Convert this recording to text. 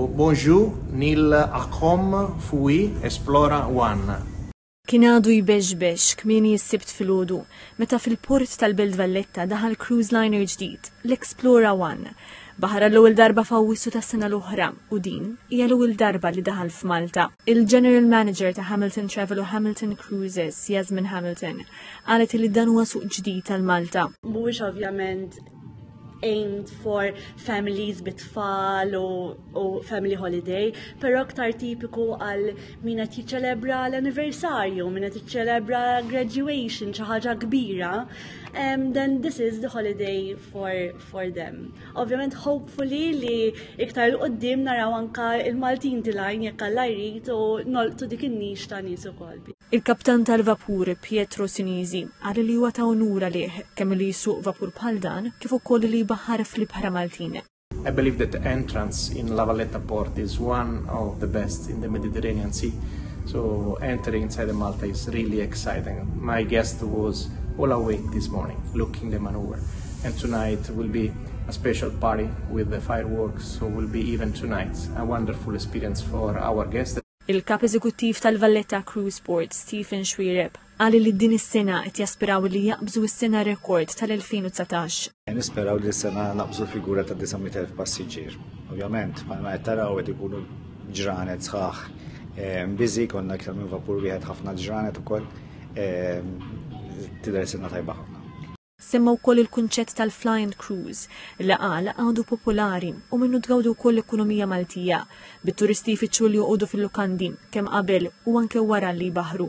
Bonjou nil akom f'Wi Esplora One. Kien għadu jbexbex kmieni s-Sibt filgħodu meta fil-port tal-Belt Valletta daħal cruise liner ġdid, l-Explora One. Baħar għall-ewwel darba f'Awwissu tas-sena l-oħra u din hija l-ewwel darba li daħal f'Malta. Il-General Manager ta' Hamilton Travel u Hamilton Cruises, Yasmin Hamilton, qalet li dan huwa suq ġdid għal Malta. Mhuwiex ovvjament aimed for families bit-tfal u, u family holiday, pero aktar tipiku għal min qed jiċċelebra l-anniversarju, min qed jiċċelebra graduation, xi ħaġa kbira, um, then this is the holiday for, for them. Ovvjament hopefully li iktar l-qoddim naraw anka il-Maltin tilajn jekk għalla jrid u nolqtu dik in-nix ta' nies ukoll. Il-kaptan tal-vapur, Pietro Sinisi, qal li huwa ta' unur għalih kemm li jsuq vapur bħal dan kif ukoll li jbaħħar fl-ibħra Maltin. I believe that the entrance in La Valletta port is one of the best in the Mediterranean Sea. So entering inside the Malta is really exciting. My guest was all awake this morning looking the maneuver. And tonight will be a special party with the fireworks, so will be even tonight a wonderful experience for our guests. Il-Kap Eżekuttiv tal-Valletta Crew Sport, Stephen Xuereb, qal li din is-sena qed jaspiraw li jaqbżu s-sena rekord tal-2019. Nisperaw li s-sena naqbżu figura ta' 900,000 passiġġier. Ovvjament, bħalma qed taraw qed ikunu ġranet sħaħ eh, mbiżi konna iktar minn vapur wieħed ħafna ġranet ukoll eh, tidher sena tajba ħafna. Semma wkoll il-kunċett tal-flying cruise li qal għadu popolari u minnu tgawdu wkoll l-ekonomija Maltija bit-turisti jfittxu li joqogħdu fil-lukandi kemm qabel u anke wara li jbaħħru.